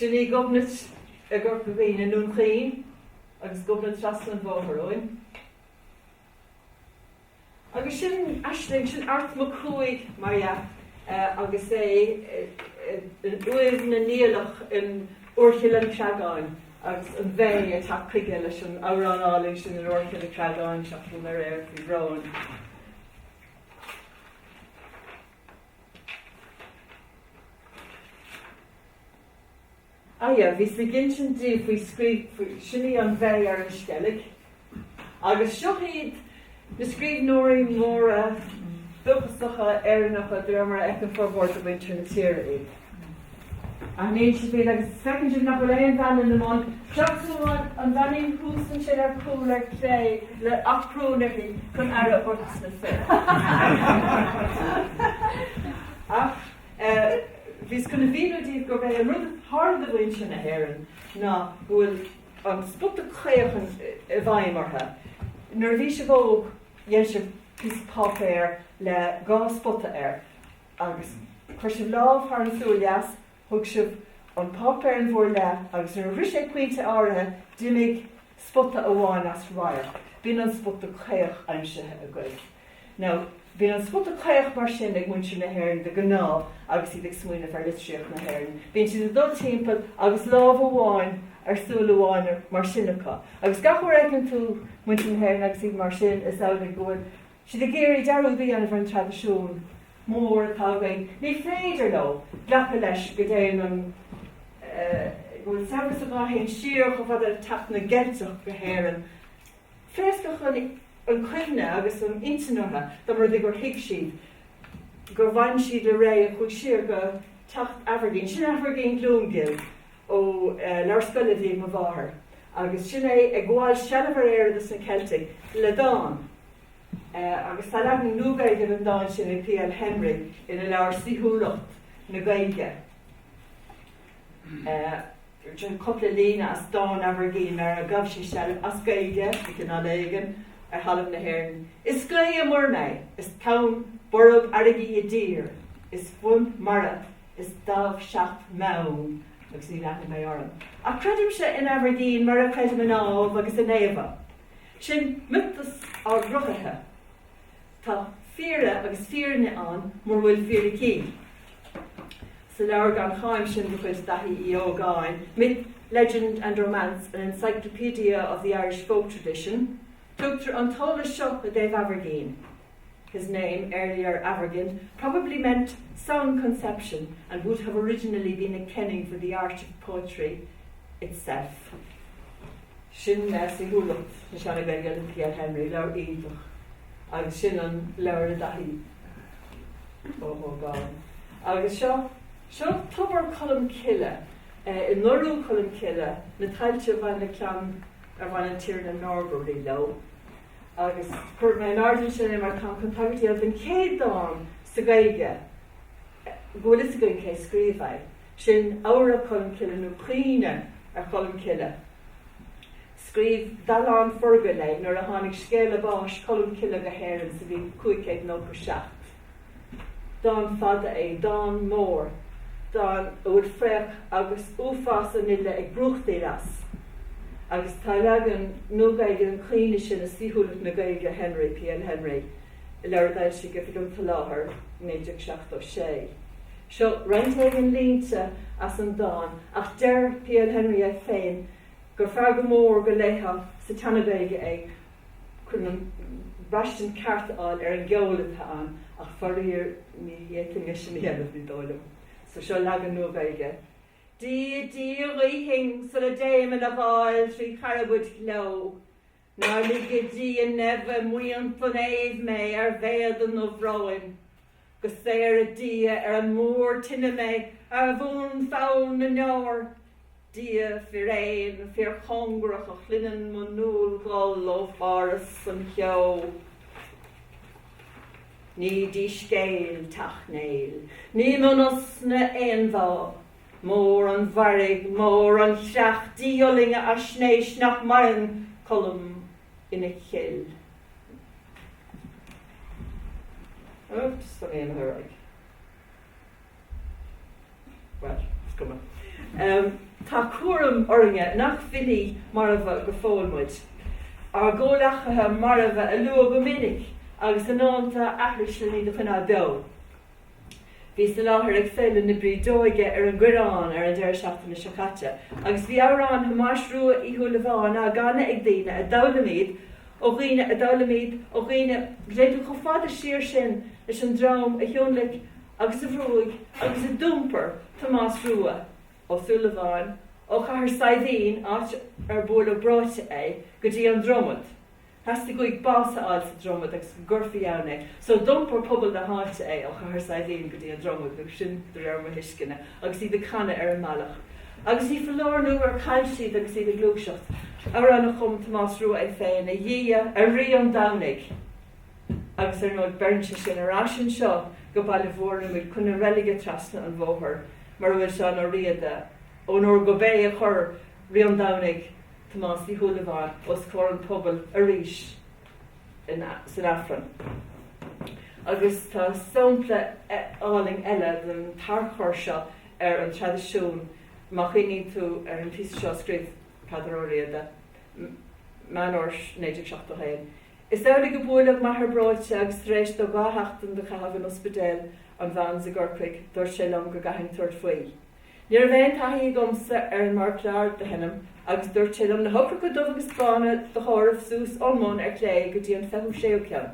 Sin í Gobnait i gCorca Dhuibhne, i nDún Chaoin, agus Gobnait trasna an bhóthair uainn. Agus sin aisling, sin Art Mac Cumhaigh, mar dhea, agus é in uaimh na Niallach in Úirchill an Creagáin, agus an bhé ag teacht chuige leis an amhrán álainn sin in Úirchill an Creagáin, sea chodail mé aréir faoi bhrón. Aye, bhíos ag insint daoibh faoi scríbh, faoi, sin í an bhé ar an Sceilg. Agus seo iad na scríbhneoirí móra dúchasacha Éireannacha de réir mar a fheiceann formhór de mhuintir na tíre iad. Aithníonn sibh iad agus feiceann sibh nach bhfuil aon bhean ann amháin seachas an bheainín thuas ansin ar chúl ar clé le aprún uirthi chun aire a thabhairt dos na fir. Ach bhíos chun a mhíniú daoibh gurb é an rud a tharla do mhuintir na hÉireann ná go bhfuil an spota caoch i bhfeidhm orthu. Nuair a bhí sibh óg dhein sibh píosa páipéir le dhá spota air. Agus chuir sibh lámh thar an tsúil dheas, thug sibh an páipéar in bhur leith agus nuair a shroich sé pointe áirithe d'imigh spota amháin as radharc. B'in an spota caoch aimsithe agaibh. Now, bíonn an spota caoch mar sin ag muintir na hÉireann de ghnáth agus iad ag smaoineamh ar litríocht na hÉireann. Bíonn siad ag dul timpeall agus lámh amháin ar súil amháin mar sin acu. Agus gach uair a fheiceann tú muintir na hÉireann agus iad mar sin is amhlaidh go bhfuil siad ag iarraidh dearúd a dhéanamh ar an traidisiún mór atá againn, ní féidir leo glacadh leis go dtéann an, eh, go bhfuil saibhreas ann a théann siar chomh fada le teacht na gCeilteach go hÉirinn. Phléascfadh an, an chuimhne agus an intinn ortha dá mba rud é gur thuig siad gur bhain siad le ré a chuaigh siar go teacht Aimhirgín. Sin Aimhirgín Glúingheal ó, eh, leabhar scoile a bhí ag mo mháthair agus sin é ag gabháil seilbh ar Éire dos na Ceiltigh le dán. Agus tá leagan nua den dán sin ag P.L. Henry ina leabhar Saoithiúlacht na Gaeilge. Sin cupla líne as dán Aimhirgín mar a ghabh sé seilbh as Gaeilge de chineál éigin ar thalamh na hÉireann, Is gaoth i muir mé, is tonn borb fharraige i dtír, is fuaim mara, is damh seacht mbeann, agus ní leanfaidh mé orm. Ach creidimse in Aimhirgín mar a chreidim in Ádhamh agus in Éabha, Sin miotas ár gcruthaithe. Tá fíoradh agus fírinne ann mura bhfuil fíricí. Sa leabhar gan cháim sin de chuid Daithí Uí Ógáin, Myth, Legend and Romance, An Encyclopedia of the Irish Folk Tradition, tugtar an t-eolas seo i dtaobh Aimhirgín, his name earlier Aimhirgin probably meant song conception and would have originally been a kenning for the art of poetry itself. Sin saoithiúlacht na Seana-Ghaeilge le P.L. Henry, leabhar iontach, agus sin an leabhar le Dáithí Ó hÓgáin. Agus seo seo Tobar Cholm Cille eh, i nDarú Cholm Cille na tailte a bhain le ceann ar bhain an Tiarna Norbury leo, agus chuir mé in airde ansin é mar táim chun tagairt a dhéanamh don chéad dán sa Gaeilge go bhfuil a fhios againn cé scríobh é, sin Amhra Cholm Cille nó Caoineadh ar Cholm Cille. Scríobh Dallán Forgaill é nuair a tháinig scéala báis Cholm Cille go hÉirinn sa bhliain 597. Dán fada é, dán mór, dán a bhfuil fraoch agus uafás an fhile ag brúchtaíl as. Agus tá leagan Nua-Ghaeilge den chaoineadh sin i Saoithiúlacht na Gaeilge Henry, PL Henry, i leabhar a d'fhoilsigh Oifig an tSoláthair i 1976. Seo roinnt éigin línte as an dán, ach deir PL Henry é féin gur fearr go mór go léifeá sa tSeana-Ghaeilge é chun an braistint ceart a fháil ar an gceol atá ann ach faraor ní fhéadfainn é sin a dhéanamh, ní dóigh liom. So seo leagan Nua-Ghaeilge. Dia Dia a ghuífinn sula dtéim ina dháil trí charbaid ghleo Nár lige Dia neimhe i mbuíon an éimh mé ar mhéad a ndubh-bhróin Go saora Dia ar an múr tine mé ar bhuanpholl na ndeor. Dia fíréan fíorchóngarach a chluineann mo nuallghol ó pharthas an cheo. Ní díscéil Teach Néill, ní mionosna aon mhá. Mór an mhairg, mór an chreach díolaing a fhaisnéis nach maireann Colm ina chill. Ach just an aon uair ag. Well, is cuma. Um, tá cúram orainne nach filí marbha go fóill muid. Ár gcomhleachaithe marbha a lua go minic agus a ndánta a aithris len iad a choinneáil beo. Bhíos i láthair ag Féile na Brídeoige ar an gCoireán ar an deireadh seachtaine seo caite agus bhí amhráin Thomáis Rua Uí Shúilleabháin á gcanadh ag daoine a d'fhoghlaim iad ó dhaoine a d'fhoghlaim iad ó dhaoine go dtéann tú chomh fada siar sin leis an dream a thionlaic agus a bhrúigh agus a d'iompar Tomás Rua Ó Súilleabháin ó Chathair Saidhbhín, áit ar buaileadh breoite é, go dtí an Dromad. Theastaigh uaidh bás a fháil sa Dromad agus go gcuirfí ann é. So d'iompair pobal na háite é ó Chathair Saidhbhín go dtí an Dromad, nó sin de réir mo thuisceana, agus iad ag canadh ar an mbealach. Agus ní foláir nó gur chan siad agus iad ag gluaiseacht. Amhrán a chum Tomás Rua é féin, A Dhia, a Rí an Domhnaigh! Agus ar ndóigh beireann sé sin ar ais anseo go Baile Mhúirne, muid chun na reilige trasna an bhóthair mar a bhfuil Seán Ó Riada, ón uair gurb é a chuir Rí an Domhnaigh Tomás Uí Shúilleabháin os comhair an phobail arís san Aifreann. Agus tá sampla álainn eile den tarchur seo ar an traidisiún má chuimhníonn tú ar an phíosa seo a scríobh Peadar Ó Riada, Meán Fhómhair 1971, Is amhlaidh gur buaileadh m'athair breoite agus tar éis dó dhá sheachtain do chaitheamh in Ospidéal an Bhons i gCorcaigh dúirt sé liom go gcaithfinn tabhairt faoi. Ní raibh aon taithí agamsa ar an méarchlár do sheinm agus dúirt sé liom na heochracha dubha agus bána do chomhaireamh suas ón mbun ar clé go dtí an fichiú séú ceann.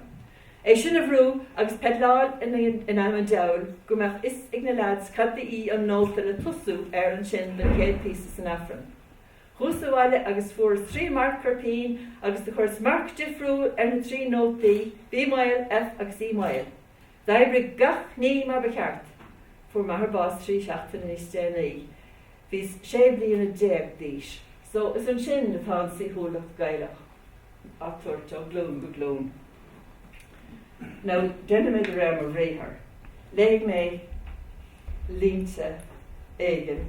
É sin a bhrú agus peidleáil in ainm an diabhail go mbeadh a fhios ag na leaids cad ba í an nóta le tosú air ansin don chéad phíosa san Aifreann. Chuas abhaile agus fuaireas trí marker pen agus do chuireas marc difriúil ar na trí nótaí, B maol, F agus E maol. D'oibrigh gach ní mar ba cheart. Fuair m'athair bás trí seachtaine níos déanaí. Bhíos sé bliana déag d'aois. So, is ansin atá an saoithiúlacht Gaelach á tabhairt ó ghlúin go glúin. Now, déanfaidh mé de réir mo bhriathar. Léifidh mé línte éigin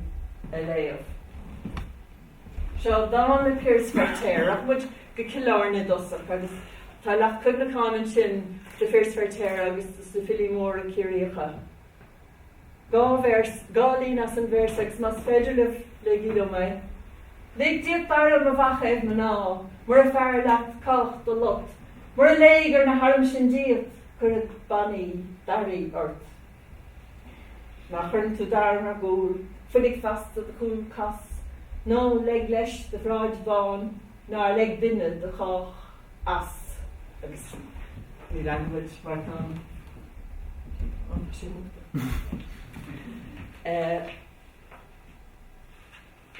a léamh. Seo dán le Piaras Feirtéar. Rachaidh muid go Cill Airne i dtosach agus tá leacht cuimhneacháin ansin do Phiaras Feirtéar agus do na filí móra Ciarraíocha. Dhá véarsa, dhá líne as an véarsa agus más féidir libh, léigí liom é. Lig díot d'airm, a mhacaoimh mná, mura fearr leat cách do lot, mura léigir na hairm sin díot, cuirfead bannaí d'áirithe ort. Má chuireann tú d'airm ar gcúl, foiligh feasta do chúl cas, ná leig leis do bhráid bhán, nár leig duine do chách as. Agus ní leanfaidh muid mar atá ansin.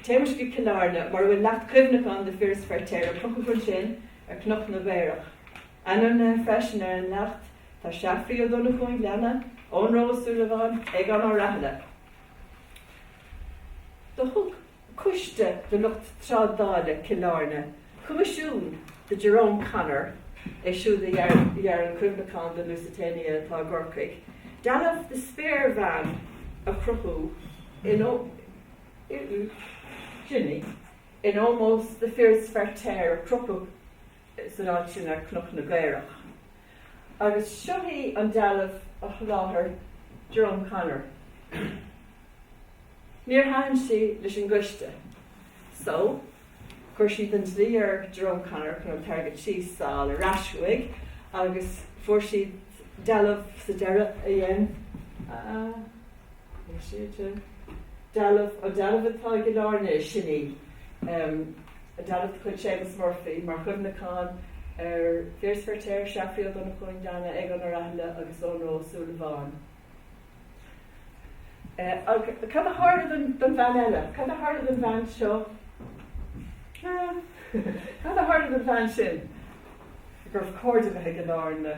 Téimis go Cill Airne mar a bhfuil leacht cuimhneacháin do Phiaras Feirtéar a crochadh ansin ar Cnoc na gCaorach. Ainmnithe freisin ar an leacht tá Séafraidh Ó Donnchadha an Ghleanna, Eoghan Rua Ó Súilleabháin, Aogán Ó Rathaille. Do thug coiste de lucht trádála Cill Airne coimisiún do Jerome Connor, é siúd a dhear an cuimhneachán don Lusitania atá i gCorcaigh, dealbh de spéirbhean a chruthú in Iúil, Jimmy, in ómós do Phiaras Feirtéar a crochadh san áit sin ar Chnoc na gCaorach. Agus seo í an dealbh a sholáthair Jerome Connor. Níor thaitin sí leis an gcoiste so chuir siad an dlí ar Jerome Connor chun an t-airgead síos a fháil ar ais uaidh agus fuair siad dealbh sa deireadh a dhein Ar sé de, Dealbh, an dealbh atá i gCill Airne, sin í, an dealbh de chuid Séamus Murphy mar chuimhneachán ar Phiaras Feirtéar, Seafraidh Ó Donnchú an Ghleanna, Aogán Ó Rathaille agus Eoghan Rua Ó Súilleabháin. Ach cad a tharla don don bhean eile? Cad a tharla don bhean seo? Cad a tharla don bhean sin? Gur chóir di a bheith i gCill Airne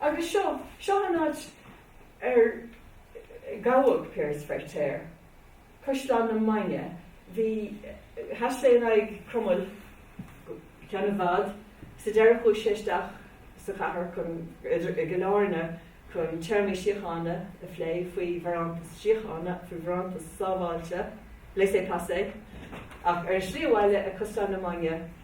Agus seo, seo an áit ar gabhadh Piaras Feirtéar, Caisleán na Mainge. Bhí, sheas sé in aghaidh Cromail go ceann i bhfad, sa deireadh chuaigh sé isteach sa chathair chun, idir, i gCill Airne chun téarmaí síochána a phlé faoi bharántas síochána, faoi bharántas sábháilte, laissez passer, ach ar an slí abhaile ag Caisleán na Mainge,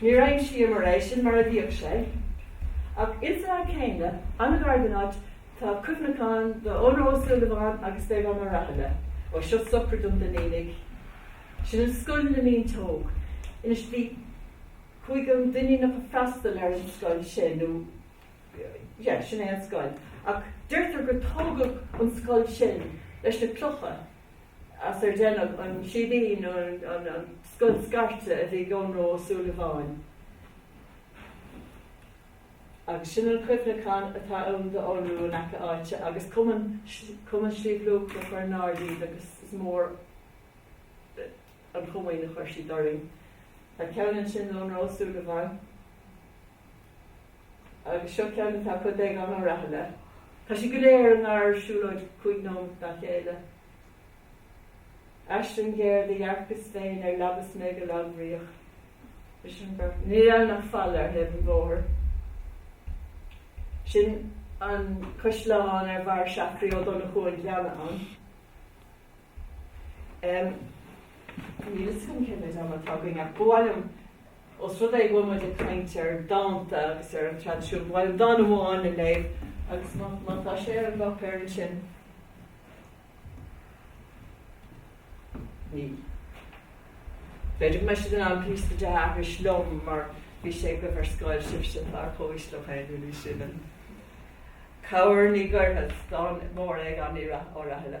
Níor aimsíomar eisean mar a bhíodh sé. Ach ins an áit céanna, an-ghar don áit, tá cuimhneachán do Eoghan Rua Ó Súilleabháin agus d'Aogán Ó Rathaille. Ó seo socair dom duine uilig. Sin an scoil na Mínteog. Anois bhí, tuigim, an Duinníneach a' freastal ar an scoil sin nó yeah, sin é an scoil. Ach deirtear gur tógadh an scoil sin leis na clocha as ar deineadh an síbín nó an scoil scairte a bhí ag Eoghan Rua Ó Súilleabháin. Agus sin an cuimhneachán atá ann d'Eoghan Rua in aice áite agus Cumann Shliabh Luachra a chuir in airde iad agus is mór an chomaoin a chuir siad orainn. Tá ceann ansin d'Eoghan Rua Ó Súilleabháin. Agus seo ceann atá acu d'Aogán Ó Rathaille. Tá siad go léir i ngar siúlóid cúig nóimeat dá chéile. Aisling ghéar do dhearcas féin ar leaba 's mé go lagbhríoch leis an bheirt. Níl ann ach falla ar thaobh an bhóthair. Sin an caisleán ar mhair Seafraidh Ó Donnchú an Ghleanna ann. Em, níl fhios agam cé mhéid ama atá againn ach ba mhaith liom, os rud é go bhfuil muid ag caint ar dánta agus ar an traidisiún, ba mhaith liom dán amháin a léamh agus má, má tá sé ar an bpáipéar ansin. Níl. Féidir libhse den an píosa de agus liom mar bhí sé agaibh ar scoil, sibhse atá ar comhaois féidirú sian. Cabhair ní ghairfead, dán mór Aogáin Uí Rathaille.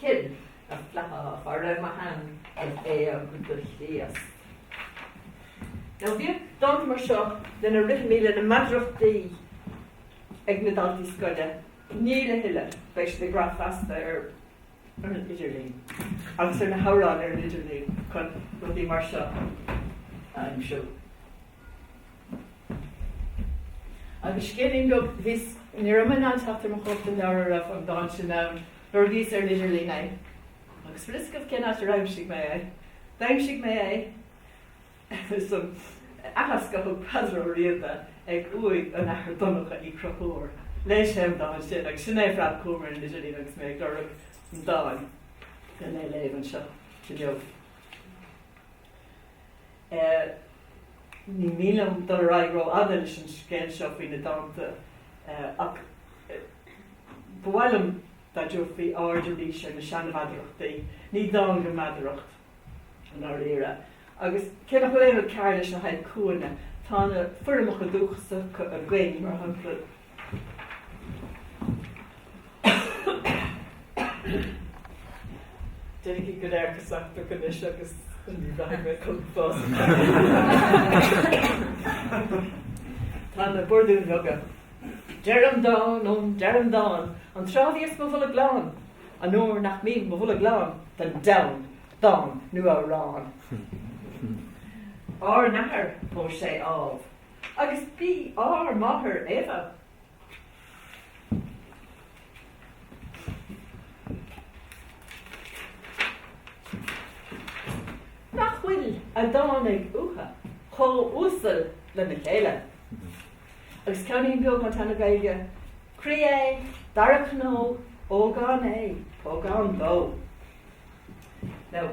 Cill, na flatha fá raibh mo shean ag éag do Chríost. Now bhíodh dánta mar seo lena rithimí, lena meadarachtaí ag na daltaí scoile, níl a thuilleadh, beidh siad ag brath feasta ar an idirlíon agus ar na hamhráin ar an idirlíon chun rudaí mar seo a aimsiú. Agus scéilín daoibh, bhíos ní raibh mé in ann teacht ar mo chóip den leabhar a raibh an dán sin ann nuair a bhíos ar an idirlíon. Agus bhfuil fhios agaibh cén áit ar aimsigh mé é. D'aimsigh mé é san aitheasc a thug Peadar Ó Riada ag uaigh an Athar Donncha Uí Chonchúir. Léigh sé an dán sin agus sin é a phreab chugam ar an idirlíon agus mé ag lorg an dáin chun é a léamh anseo inniu. Ní mian liom dul ar aghaidh ró-fhada leis an scéal seo faoi na dánta ach ba mhaith liom dá dtabharfaí aird arís ar na seanmheadarachtaí. Ní dán go meadaracht i ndáiríre. Agus cé nach bhfuil aon rud cearr leis na haikúnna, tá na foirmeacha dúchasacha againn, mar shampla, Déarfaidh go léir go sanctach anois agus ní bheidh mé chun fos. Tá na burdúin bheaga. Deirim dán ó deirim dán an tráth a bhíos mo bholg lán, an uair nach mbíonn mo bholg lán don deamhan, dán nó amhrán. Ár n-athair, ós é Ádhamh, Agus b'í ár máthair Éabha. Nach bhfuil a dtáinig uatha chomh uasal lena chéile. Agus ceainnín beag ón tSeana-Ghaeilge, croí é, doire cnó, ógán é, pógán dó. Now,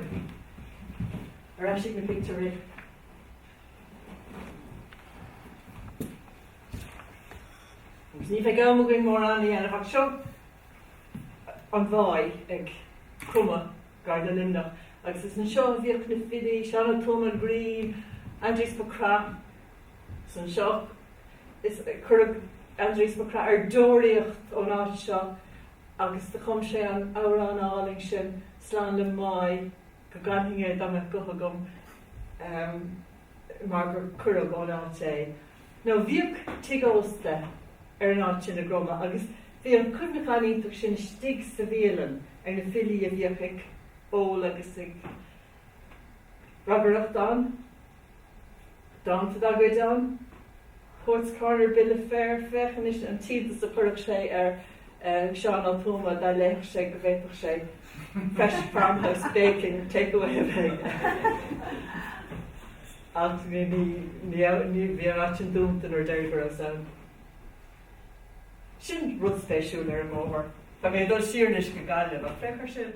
ar ais chuig na pictiúirí. Agus ní bheidh am againn mórán a dhéanamh ach seo an Mháigh ag Cromadh gar do Luimneach agus is anseo a bhíodh na filí, Seán Ó Tuama an Ghrinn, Aindrias Mac Craith, is anseo is cuireadh Aindrias Mac Craith ar deoraíocht ón áit seo agus do chum sé an amhrán álainn sin, Slán le Máigh. go gcanfainn é dá mbeadh guth agam mar gur cuireadh ón áit é. Now bhíodh tigh ósta ar an áit sin i gCromadh agus bhí an cuimhneachán iontach sin istigh sa bhialann ar na filí a bhíodh ag ól agus ag ragaireacht ann. Dánta dá gcuid ann. Poets Corner, Bill of Fare, féach anois an t-iontas a chuirfeadh sé ar Sheán Ó Tuama dá léifeadh sé go bhféadfadh sé Fresh Farmhouse Baking, Take Away a bheith aige. Ach bhí an áit sin dúnta an uair dheiridh go rabhas ann. Sin rud spéisiúil ar an mbóthar. Tá mé ag dul siar anois go Gaillimh ach féach ar sin.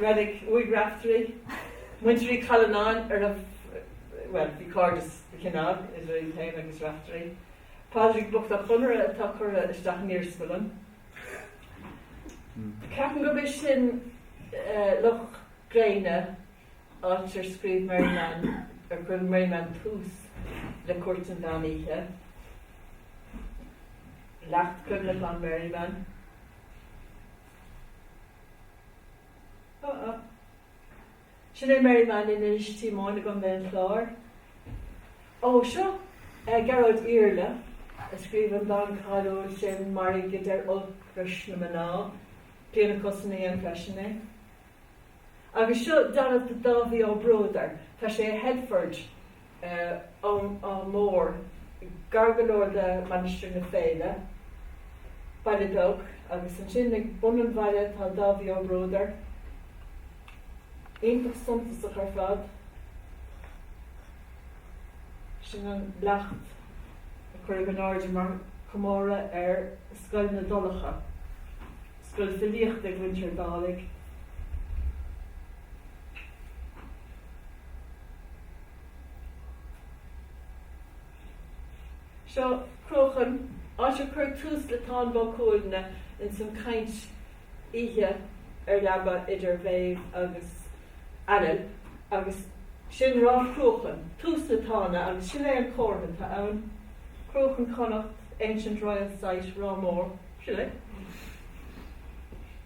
Reilig, uaigh Raiftearaí. Muintir Uí Challanáin ar a, bhuel, bhí cairdeas de chineál idir iad féin agus Raiftearaí. Pádraig bocht Ó Conaire atá curtha isteach in iarsmalann. Ceapaim gurb é sin Loch Gréine, áit ar scríobh Merriman, ar chuir Merriman tús le Cúirt an Mheán Oíche. Leacht cuimhneacháin Merriman. Ah ah. Sin é Merriman in Inis Díomáin, Contae an Chláir. Ó seo eh Gearóid Iarla a scríobh an dán cáiliúil sin Mairg a deir olc ris na mná Clíona Cussen a dhein freisin é. Agus seo dealbh de Dháibhí Ó Bruadair tá sé i Headford Áth Mór, gar go leor de Mainistir na Féile, baile beag, agus ansin ag bun an bhaile tá Dáibhí Ó Bruadair, iontach suntasach ar fad. Sin an leacht a cuireadh in airde mar chomóradh ar Scoil na dTolcha, scoil filíochta ag Mhuintir Dálaigh. Seo Cruachan, áit ar cuireadh tús le Táin Bó Cuailgne ins an chaint oíche ar leaba idir Mhéabh agus Ailill agus sin Ráth Cruachan, tús na Tána agus sin é an comhartha atá ann, Cruachan Connacht, ancient royal site, Ráth Mór, sin é.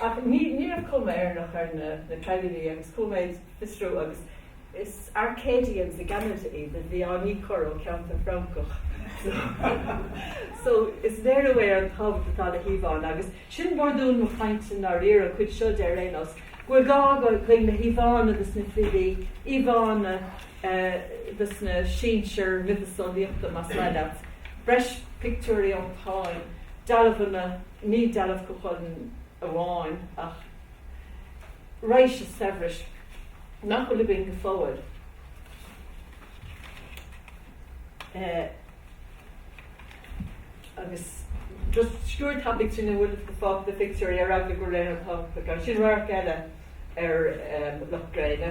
Ach ní raibh cuma Éireannach ar na cailíní agus chuaigh mé ag fiosrú agus is Arcadians i gCeanada iad a bhí á ndíchur ó cheantar Francach so is léiriú é ar an tábhacht atá le híomhánna agus sin burdún mo chainte i ndáiríre, an chuid seo de ar aon nós, go bhfuil gá againn le híomhánna dos na filí, íomhánna dos na sinsir miotaseolaíochta más maith leat, breis pictiúirí ón Táin, dealbhanna. Ní dealbh Chú Chulainn amháin ach raidhse saibhris nach bhfuil againn go fóill. Agus just sciúrd tapaigh trína bhfuil fágtha de phictiúirí ar eagla go bhfuil aon tábhacht acu. Sin radharc eile ar Loch Gréine.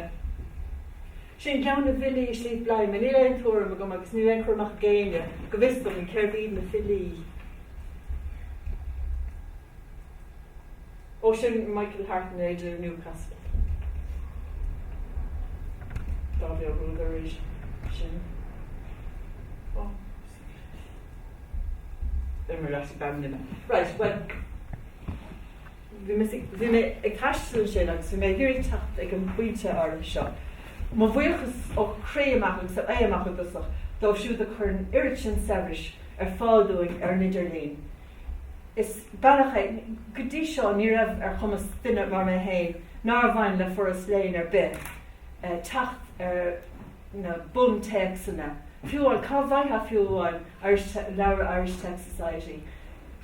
Sin ceann de bhilí Shliabh Bladhma. Níl aon tuairim agam, agus níl aon chur amach ag éinne, go bhfios dom, cérbh iad na filí. Ó sin Michael Hartnett i Newcastle. Dhá bhí an rud tar éis sin. Ó. Imir as beimnime. Right, well. Bhí mé ag taisteal ansin agus bhí mé ag iarraidh teacht ag an bpointe áirithe seo. Mo bhuíochas ó chroí amach agus ó m'ae amach i dtosach dóibh siúd a chuir an oiread sin saibhris ar fáil dúinn ar an idirlíon. Is bealach é, go dtí seo ní raibh ar chumas duine mar mé féin, nár bhain le foras léinn ar bith, teacht ar. na buntéacsanna, fiú amháin, cá bhfaightheá fiú amháin Irish, leabhra Irish Texts Society?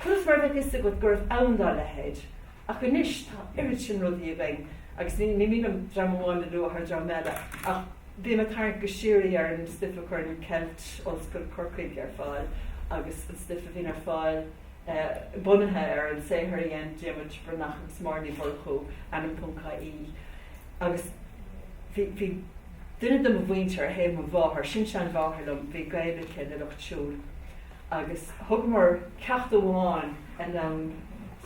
Conas mar a bheadh a fhios agat go raibh ann dá leithéid? Ach anois tá oiread sin rudaí againn, agus ní mian liom dream amháin a lua thar dream eile, ach bím ag tarraingt go síoraí ar an stuif a chuireann Celt, Ollscoil Corcaigh, ar fáil, agus an stuif a bhíonn ar fáil, bunaithe ar an saothar a dhein Diarmuid Breathnach agus Máire Ní Mhurchú, ainm ponc ie. agus bhí, bhí duine de mo mhuintir ar thaobh mo mháthar, sin-seanmháthair liom, bhí gaol aici le lucht siúil agus thugamar ceacht amháin linn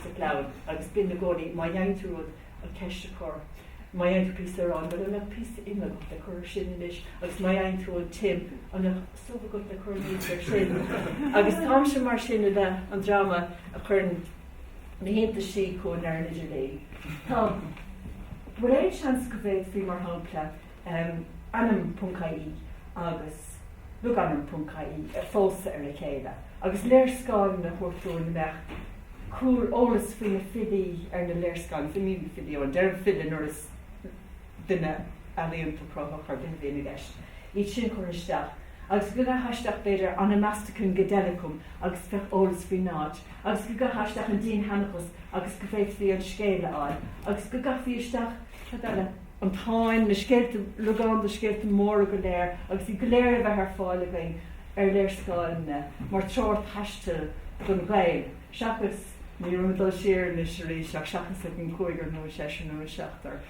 sa chlann agus b'in i gcónaí má dhein tú rud, an ceist a chur, má dhein tú píosa aráin, bhuel an mbeadh píosa ime agat le cur air sin anois agus má dhein tú an t-im, an mbeadh. subh agat le cur anuas air sin agus táimse mar sin i leith an dreama a chuireann na hiontaisí chugainn ar an idirlíon. Tá. An bhfuil aon seans go bhféadfaí mar shampla ainm.ie agus logainm.ie a phósadh ar a chéile agus léarscáil a chruthú ina mbeadh an t-eolas faoi na filí ar an léarscáil, ní hamháin na filí, ó a deirim file nuair is. duine ealaíonta cruthaitheach ar bith a bhíonn i gceist, iad sin a chur isteach agus go gcaithfeá isteach b'fhéidir Onomasticon Goedelicum agus bheadh eolas faoin áit agus go gcaithfeá isteach an dinnsheanchas agus go bhféadfaí an scéal a fháil agus go gcaithfí isteach, cad eile? an Táin, na scéalta, logainm de scéalta móra go léir agus iad go léir a bheith ar fáil againn ar léarscáileanna mar treoir taistil don Ghael seachas, ní raibh mé ag dul siar anois arís, ach seachas ag an gcúigear nó an seisear nó an seachtar.